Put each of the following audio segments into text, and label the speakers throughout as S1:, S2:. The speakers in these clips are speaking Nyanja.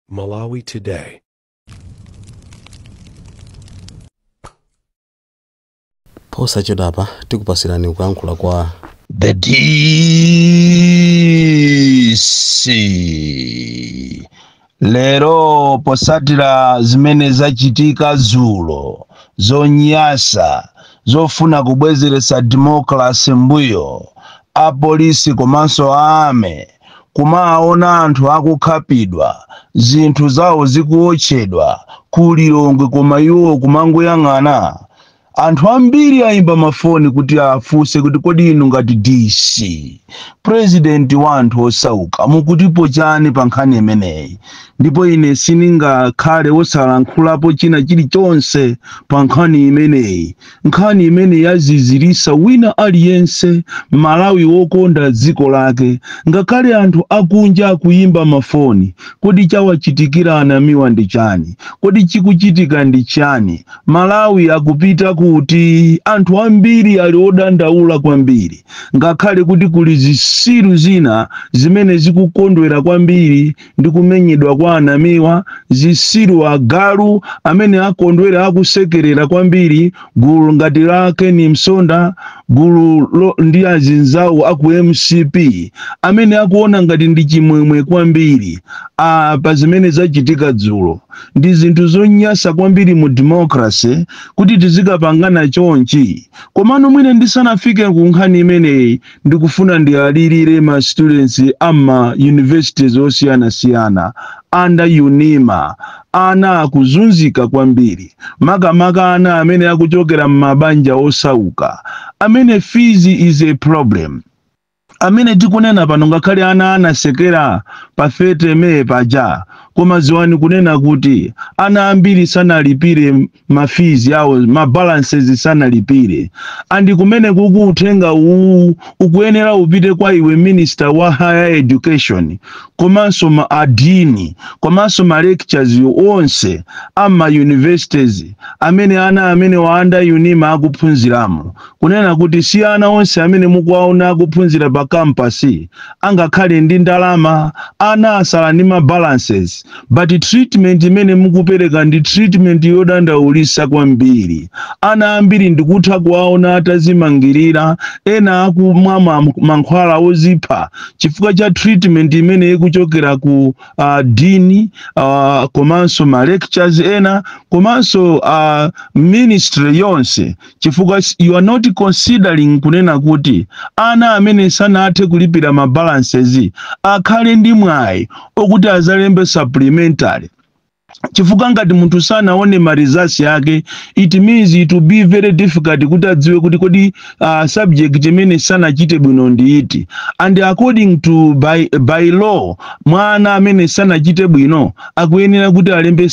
S1: Malawi
S2: Today. posachedwapa tikupasirani kuyankhula kwa The
S3: DC lero posatira zimene zachitika zulo zonyasa zofuna kubwezeretsa democracy mbuyo apolisi komanso a army kumawaona anthu akukhapidwa, zinthu zawo zikuotchedwa ku Lilongwe koma iwo kumangoyang'ana? Anthu ambiri ayimba mafoni kuti afunse kuti kodi inu ngati DC, President wa anthu osauka mukutipo chani pa nkhani imeneyi? Ndipo ine sindingakhale wosalankhulapo china chilichonse pa nkhani imeneyi. nkhani imene yazizirisa wina aliyense m'malawi wokonda dziko lake ngakhale anthu akunja akuyimba mafoni kodi chawachitikira a namiwa ndi chani kodi chikuchitika ndi chani malawi akupita kuti anthu ambiri ali odandaula kwambiri ngakhale kuti kuli zisiru zina zimene zikukondwera kwambiri ndi kumenyedwa kwa a Namiwa, zisiru, agalu amene akondwera akusekerera kwambiri gulu ngati la Ken Msonda gululo, ndi azinzawo a ku MCP amene akuona ngati ndi chimwemwe kwambiri a pa zimene zachitika dzulo. Ndi zinthu zonyasa kwambiri mu democracy kuti tizikapangana chonchi. Komano mwina ndisanafike ku nkhani imeneyi ndikufuna ndiwalirire ma students a m'ma universities osiyanasiyana under unima ana akuzunzika kwambiri makamaka ana amene akuchokera m'mabanja osauka amene fees is a problem amene tikunena pano ngakhale ana anasekera pa 30 may paja koma ziwani kunena kuti ana ambiri sanalipire ma fees awo ma balances sanalipire and kumeneku uthenga uwu ukuyenera upite kwa iwe minister wa higher education komanso ma dean komanso ma lectures onse a m'ma universities amene ana amenewa under unima akuphunziramo Kunena kuti si ana onse amene mukuwaona akuphunzira pa campus angakhale ndi ndalama, ana asala ndi ma balances, but treatment imene mukupereka ndi treatment yodandaulitsa kwambiri. Ana ambiri ndikutha kuwaona atazimangirira, ena akumwa ma mankhwala ozipha chifukwa cha treatment imene ikuchokera ku uh, dean uh, komanso ma lectures ena komanso uh, ministry yonse chifukwa you are not considering kunena kuti ana amene sanathe kulipira ma balances akhale ndi mwayi okuti azalembe supplementary chifukwa ngati munthu sanaone ma results yake it means it will be very difficult kuti adziwe kuti kodi uh, subject imene sanachite bwino ndi iti and according to by, by law mwana amene sanachite bwino akuyenera kuti alembe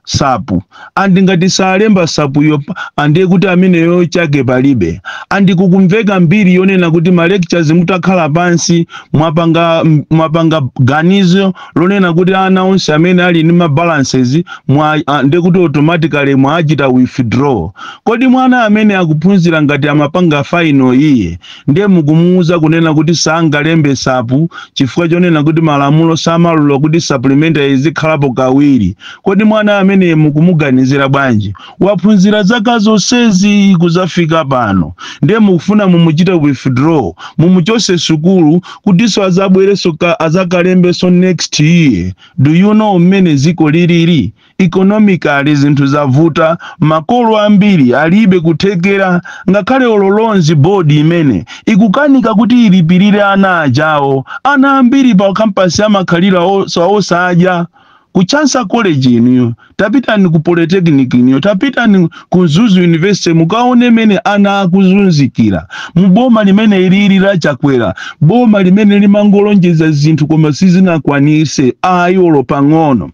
S3: sapu andi ngati salemba sapuyo ande kuti ameneyo chake palibe andi kukumveka mbiri yonena kuti ma lectures mutakhala pansi mwapanga m- mwapanga ganizo lonena kuti ana onse amene ali ndi ma balances ande kuti automatically mwachita withdraw kodi mwana amene akuphunzira ngati amapanga final iye ndiye mukumuuza kunena kuti sangalembe sapu chifukwa chonena kuti malamulo samalula kuti supplementary izikhalapo kawiri kodi mwana amene mukumuganizira bwanji waphunzira zaka zonsezi kuzafika pano ndiye mukufuna mumuchite withdraw mumuchose sukulu kutinso azabwereso ka- azakalembeso next year do you know mmene ziko lilili Economically zinthu zavuta, makolo ambiri alibe kuthekera ngakhale olo loans board imene ikukanika kuti ilipilire ana ajawo, ana ambiri pa campus amakhalira osadya, ku Chansa College inuyo, tapitani ku Polytechnic inuyo, tapitani ku Mzuzu University mukaone mene ana akuzunzikira mu boma limene ilili la Chakwera, boma limene limangolonjeza zinthu koma silinakwanise ayi olo pang'ono.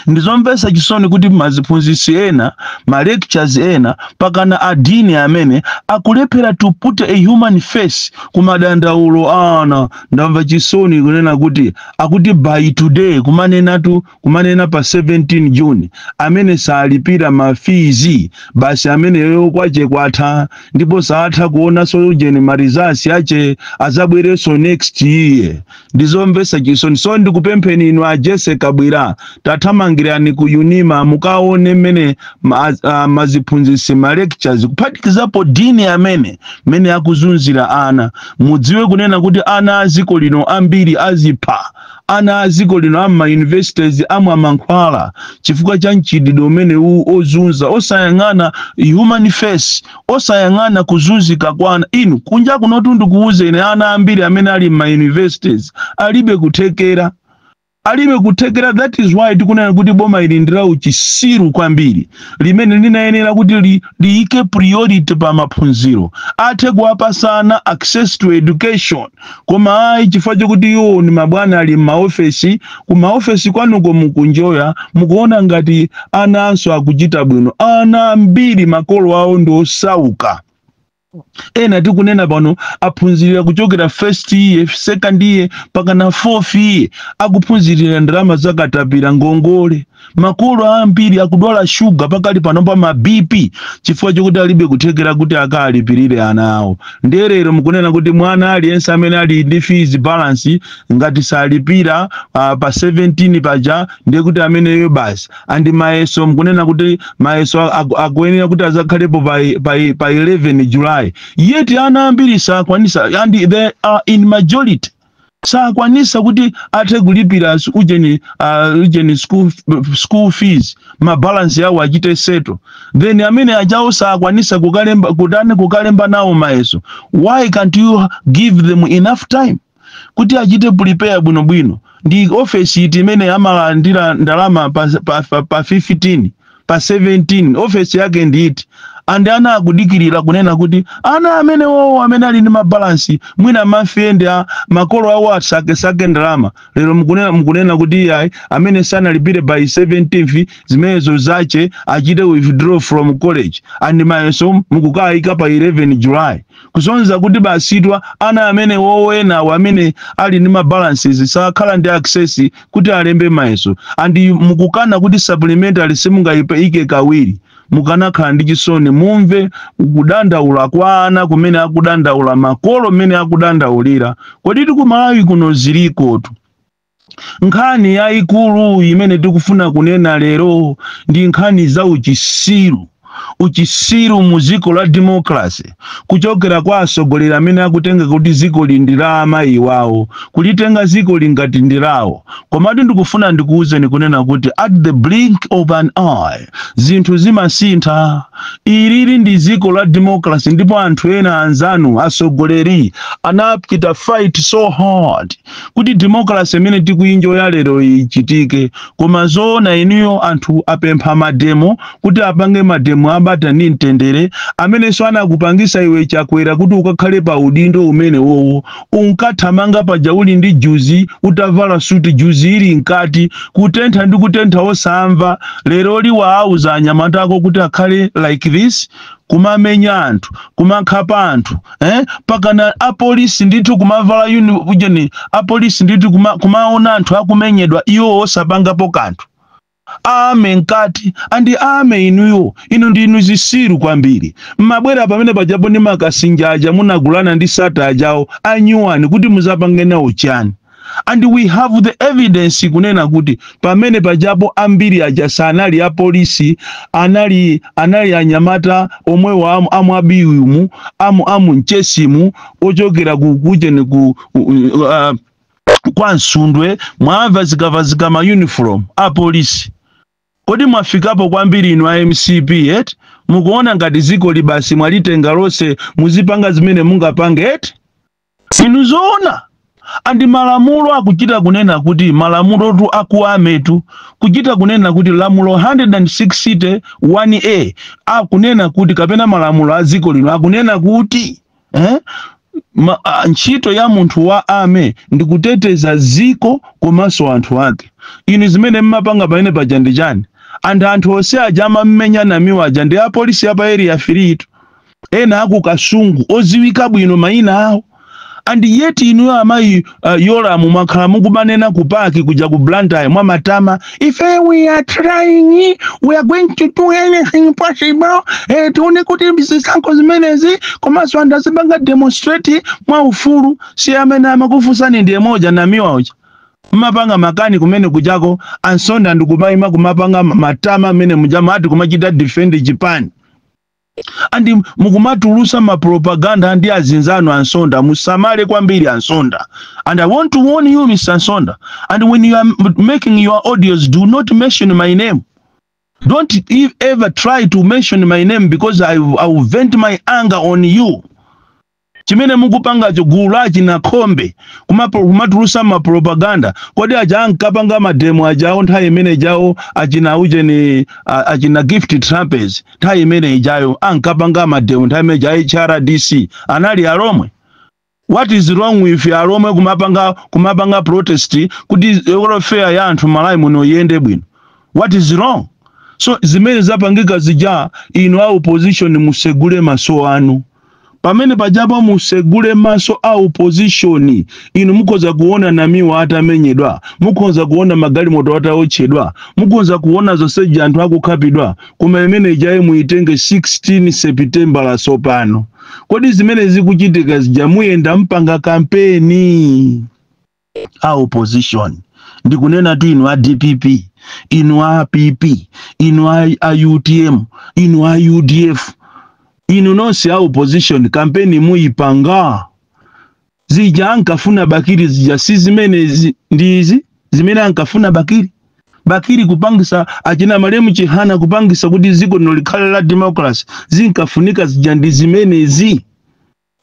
S3: ndizomvetsa chisoni kuti maziphunzitsi ena ma lectures ena mpakana a dean amene akulephera to put a human face ku madandaulo ana ndamva chisoni kunena kuti akuti by today kumanenatu kumanena pa 17 june amene salipira mafizi basi ameneyo kwache kwatha ndipo saatha kuonanso ujeni ma results ache azabwerenso next year ndi zomvetsa chisoni so ndikupempheni inu a Jessie Kabwila tathamangirani ku UNIMA mukaone mmene ma- ah, maziphunzitsi ma lectures kuphatikizapo dean amene mmene akuzunzira ana mudziwe kunena kuti ana a dziko lino ambiri azipha ana a dziko lino a m'ma universities amwa mankhwala chifukwa cha mchitidwe umene uwu ozunza osayang'ana human face osayang'ana kuzunzika kwa ana inu kunja kunotu ndikuwuzeni ine ana ambiri amene ali m'ma universities alibe kuthekera alibe kuthekera that is why tikunena kuti boma ili ndi la uchisiru kwambiri limene linayenera kuti li, liyike priority pa maphunziro athe kuwapasa ana access to education koma ayi chifukwa chokuti iwo ni mabwana ali m'maofesi kumaofesi kwanuko mukunjoya mukuona ngati ana'nso akuchita bwino ana ambiri makolo awo ndi osauka ena tikunena pano aphunzirira kuchokera first year second year pakana fourth year akuphunzirira ndalama zakatapira ngongole Makolo ambiri akudwala shuga pakali pano pa ma BP chifukwa chokuti alibe kuthekera kuti akalipirire ana awo. Ndiye lero mukunena kuti mwana aliyense amene ali ndi fees balance ngati salipira uh, pa 17 paja ndiye kuti ameneyo basi. And mayeso mukunena kuti mayeso aku- akuyenera kuti azakhalepo pa, pa, pa 11 July. Yet ana ambiri sakwanisa and they are in majority. sakwanisa kuti athe kulipira as- ujeni uh, ujeni school, f- school fees mabalansi yawo achite seto then amene ajawo sakwanisa kutani kukalemba nawo mayeso why can't you give them enough time kuti achite prepare bwinobwino ndi ofesi iti imene amalandira ndalama pa, pa, pa, pa 15 pa 17 ofesi yake ndi iti and ana akudikirira kunena kuti ana amene wowo amene ali ndi mabalansi mwina mafriend a makolo awo asakesake ndalama lero mukunena, mukunena kuti iyayi amene sanalipire by 17th zimenezo zache achite withdraw from college and mayeso mukukayika pa 11 july kusonyeza kuti basitwa ana amene wowenawo amene ali ndi mabalances sakhala ndi access kuti alembe mayeso and mukukana kuti supplementary simungayiike kawiri mukanakhala ndi chisoni mumve kudandaula kwa ana kumene akudandaula makolo mmene akudandaulira kodi tikumalawi kuno zilikotu Nkhani yayikulu imene tikufuna kunena lero ndi nkhani za uchisiru. Uchisiru mu ziko la democracy kuchokera kwa asogoleri amene akutenga kuti zikoli ndi la amayi wawo, kulitenga zikoli ngati ndi lawo. Komatu ndikufuna ndikuwuzeni kunena kuti at the blink of an eye zinthu zimasintha. Ilili ndi ziko la democracy ndipo anthu ena anzanu asogoleri anachita fight so hard kuti democracy imene tikuyinjoya lero ichitike koma zoona inuyo anthu apempha mademo kuti apange mademo abata ndi mtendere amenenso anakupangisa iwe chakwera kuti ukakhale pa udindo umene wowo unkathamanga paja uli ndi juzi utavala suti juzi ili mkati kutentha ndi kutentha osamva lero lino wauza anyamata ako kuti akhale like this kumamenya anthu kumakhapa anthu eh? pakana apolisi ndithu kumavala uni ujeni apolisi ndithu kuma, kumaona anthu akumenyedwa iwo osapangapo kanthu army mkati and army inuyo inu ndinu zisiru kwambiri mmabwera pamene pajapo ndi makasinja aja munagulana ndi sattar ajawo anyuwani kuti muzapange nawo chani and we have the evidence kunena kuti pamene pajapo ambiri aja sanali apolisi anali anali anyamata omwewo amu, amwa biwimu amu amu mchesimu ochokera ku ujeni ku uh, kwa nsundwe mwawavazikavazika ma uniform a polisi kodi mwafikapo kwambiri inu a mcp eti mukuona ngati zikoli basi mwalitenga lonse muzipanga zimene mungapange eti Inu zoona? And malamulo akuchita kunena kuti malamulotu a ku army tu kuchita kunena kuti lamulo 160 1A akunena kuti kapena malamulo a dziko lino akunena kuti eh? Ma, a, ntchito ya munthu wa army ndi kuteteza dziko komanso anthu ake. Inu zimene mmapanga pamene paja ndi chani? And anthu onse aja amammenya Namiwa aja ndi apolisi ya pa area 3 itu. ena aku kasungu oziwika bwino maina awo and yet inuyo amayi uh, yolamu mwakhala mukumanena ku pac kuja ku blantyre mwamatama ife we are trying we are going to do anything possible eh, tione kuti zisankho zimenezi komanso anthu azipanga demonstrate mwa ufulu si amene amakufunsani ndiye moja namiwa uja mmapanga makani kumene kujako ansonda ndikumaima kumapanga matama amene mujama ati kumachita defend chipani and mukumatulusa ma propaganda ndi azinzanu ansonda musamale kwambiri ansonda and i want to warn you mr ansonda and when you are m- making your audios do not mention my name don't e- ever try to mention my name because i, I will vent my anger on you chimene mukupangacho gulu la achina khombe kumapo- kumatulusa mapropaganda kodi aja ankapanga mademo ajawo nthawi imene ijawo achina aujeni a- achina gift trapence nthawi imene ijayo ankapanga mademo nthawi imene ijayo hrdc anali alomwe what is wrong with alomwe kumapanga kumapanga protest kuti welfare ya anthu malawi muno iyende bwino what is wrong so zimene zapangika zija inu a opposition musegule maso anu pamene pajapo musegule maso a opposition inu mukhoza kuona namiwa atamenyedwa mukhoza kuona magalimoto ataotchedwa mukhoza kuona zonsezi anthu akukhapidwa koma imene ijaye muitenge 16 sepitembala sopano kodi zimene zikuchitika zija muyenda mpanga kampeni a opposition ndikunenatu inu a dpp inu a pp inu a, a utm inu a udf inu nonse a opposition kampeni muyipanga zija ankafuna bakili zija si zimene zi- ndi izi zimene ankafuna bakili bakili kupangisa achina malemu chihana kupangisa kuti dziko lino likhale la democracy zinkafunika zija ndi zimenezi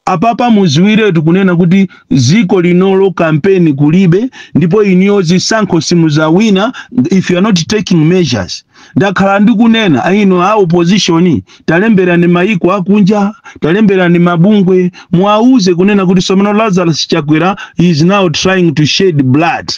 S3: Apapa muziwiretu kunena kuti ziko linolo kampeni kulibe ndipo inuyo zisankho simuzawina if you are not taking measures. Ndakhala ndikunena a inu a opposition talemberani mayiko akunja talemberani mabungwe muwawuze kunena kuti somano Lazarus Chakwera he is now trying to shed blood.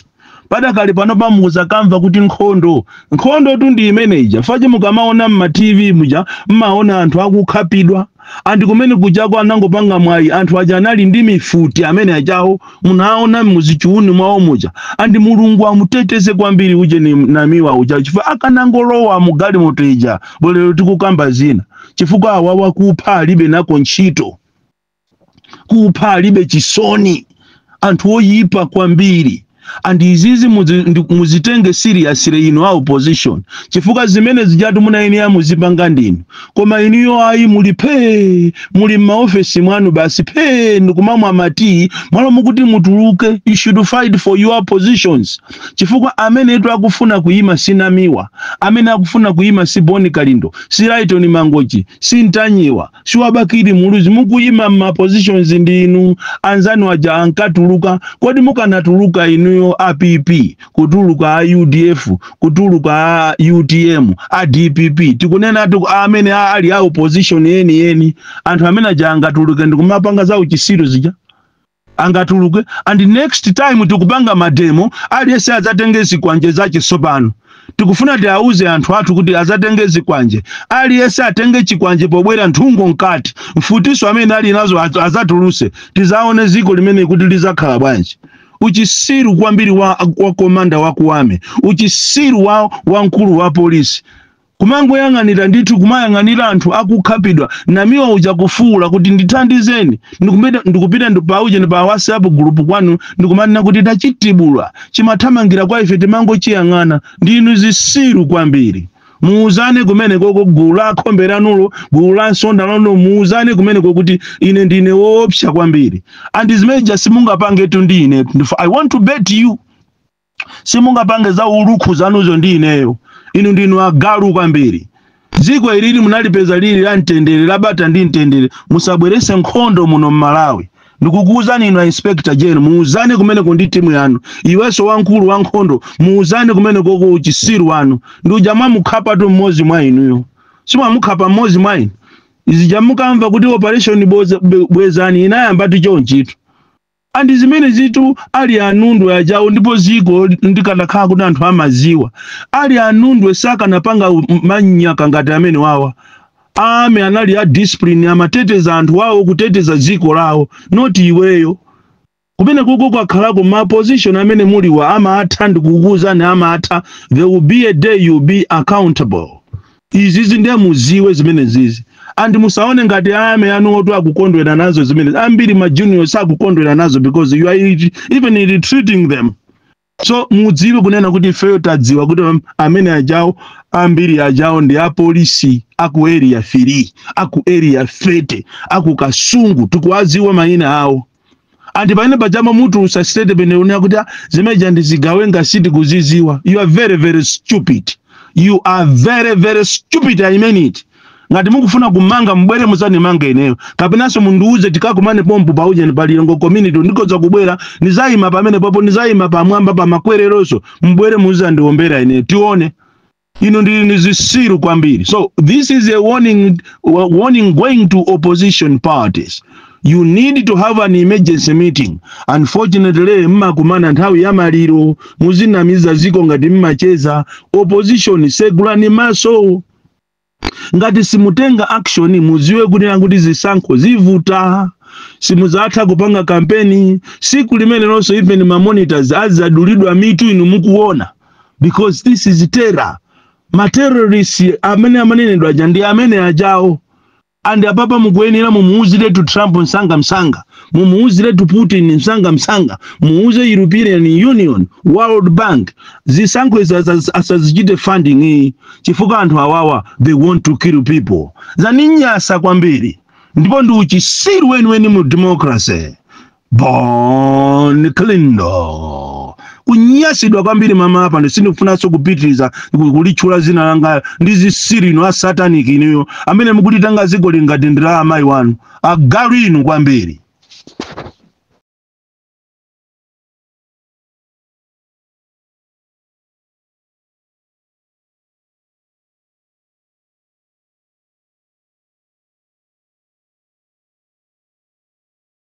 S3: padakali panopa muzakamva kuti nkhondo nkhondotu ndi imene ija paja mukamaona mma tv muja mmaona anthu akukhapidwa and kumene kujako anangopanga mwayi anthu aja anali ndi mifuti amene ajawo munaona muzichiuni mwawo muja and mulungu amuteteze kwambiri ujeni namiwa uja chifukwa akanangolowa mugalimoto ija bolero tikukamba zina chifukwa awawa kupha alibe nako ntchito kupha alibe chisoni anthu oyipa kwambiri and izizi muzitenge seriously inu a opposition chifukwa zimene zijatu munayenera muzipanga ndinu koma inuyo ayi muli phee muli m'maofesi mwanu basi phee ndikumamwa matii mmalo moti mutuluke you should fight for your positions chifukwa amenetu akufuna kuyima si namiwa amene akufuna kuyima si bon kalindo si lytone mangochi si mtanyiwa si wa bakili muluzi mukuyima ma positions ndi inu anzanu aja ankatuluka kodi mukanatuluka inuyo a pp kutuluka a udf kutuluka a utm a dpp tikunenatu amene ali a opposition yeniyeni anthu amene aja angatuluke ndikumapanga za uchisiru zija angatuluke and next time tikupanga mademo aliyense adzatenge zikwanje zache tsopano tikufuna tiauze anthu athu kuti adzatenge zikwanje aliyense atenge chikwanje pobwera nthungo mkati mfutiso amene ali nazo adzatuluse tizaone ziko limeneli kuti lizakhala bwanji uchisiru kwambiri wa komanda wa ku army uchisiru wa mkulu wa polisi Kumangoyang'anira ndithu kumayang'anira anthu akukhapidwa namiwa uja kufuula kuti ndithandizeni ndikupita ndi pa ujeni pa WhatsApp group kwanu ndikumanena kuti tachitibula chimathamangira kwa ife timangochiyang'ana ndinu zisiru kwambiri. Muuzane kumenekoko gulu la a Nkhombe lanulo gulu la Msonda lanulo muuzane kumeneko kuti ine ndine woopsa kwambiri and zimene zija simungapangetu ndi ine I want to bet you simungapange za ulukhu zanuzo ndi ineyo inu ndinu agalu kwambiri dziko ilili munalipeza lili la mtendere labata ndi mtendere musabwerese nkhondo muno mmalawi ndikukuwuzani inu a inspector general muwuzane kumeneko ndi timu yanu iwenso wamkulu wa nkhondo muwuzane kumeneko ku uchisiru wanu ndi uja mwamukhapatu mmodzi mwa inuyo simwamukhapa mmodzi mwa inu izija mukamva kuti operation bwezani inayambatu chonchitu and zimenezitu ali a Nundwe ajawo ndipo ziko ndikanakhala kuti anthu amaziwa ali a Nundwe sakanapanga u- m- manyaka ngati amene awawa army anali a discipline amateteza anthu wawo kuteteza ziko lawo not iweyo kumene kuko kwakhalako ma position amene muliwa amatha ndikukuuzani amatha there will be a day you be accountable izizi nde muziwe zimenezizi and musaone ngati army anuwotu akukondwera nazo zimenezi ambiri ma junior sakukondwera nazo because you are it- even ill-treating them so mudziwe kunena kuti ifeyo tadziwa kuti am- amene ajawo ambiri ajawo ndi apolisi aku area 3 aku area 30 aku kasungu tikuwadziwa mayina awo and pamene paja mumatulusa statement kunena kuti "Ah, zimeja ndi zigawenga sitikuziziwa you are very very stupid you are very very stupid i mean it ngati mukufuna kumanga mbwere muzanimanga ineyo kapenanso mundiuze tikakumane pompo pa ujeni pa Lilongwe community ndikoza kubwera nizayima pamene papo nizayima pamwamba pa makwereroso mbwere muzandiombera ineyo tione inu ndili ni zisiru kwambiri so this is a warning going to opposition parties you need to have an emergency meeting unfortunately mmakumana nthawi ya maliro muzinamiza ziko ngati mmacheza opposition segulani maso ngati simutenga action muziwe kunena kuti zisankho zivuta simuzatha kupanga kampeni siku limenelonso even mamonitors azadulidwa mitu inu mukuona because this is terror materrorist amene amanenedwa aja ndi amene ajawo and apapa mukuyenera mumuuziretu trump msanga msanga mumuuziretu putin msanga msanga muuze european union world bank zisankho izi asaz- asazichite funding iyayi chifukwa anthu awawa they want to kill people zaninyasa kwambiri ndipo ndi uchisiru weniweni mu democracy Bon Kalindo kunyasidwa kwambiri mama apa sindikufunanso kupitiriza ku- kulitchula zina langa ndi zisiru inu a satanic inuyo amene mukulitenga zikoli ngati ndi la amayi wanu agalu inu kwambiri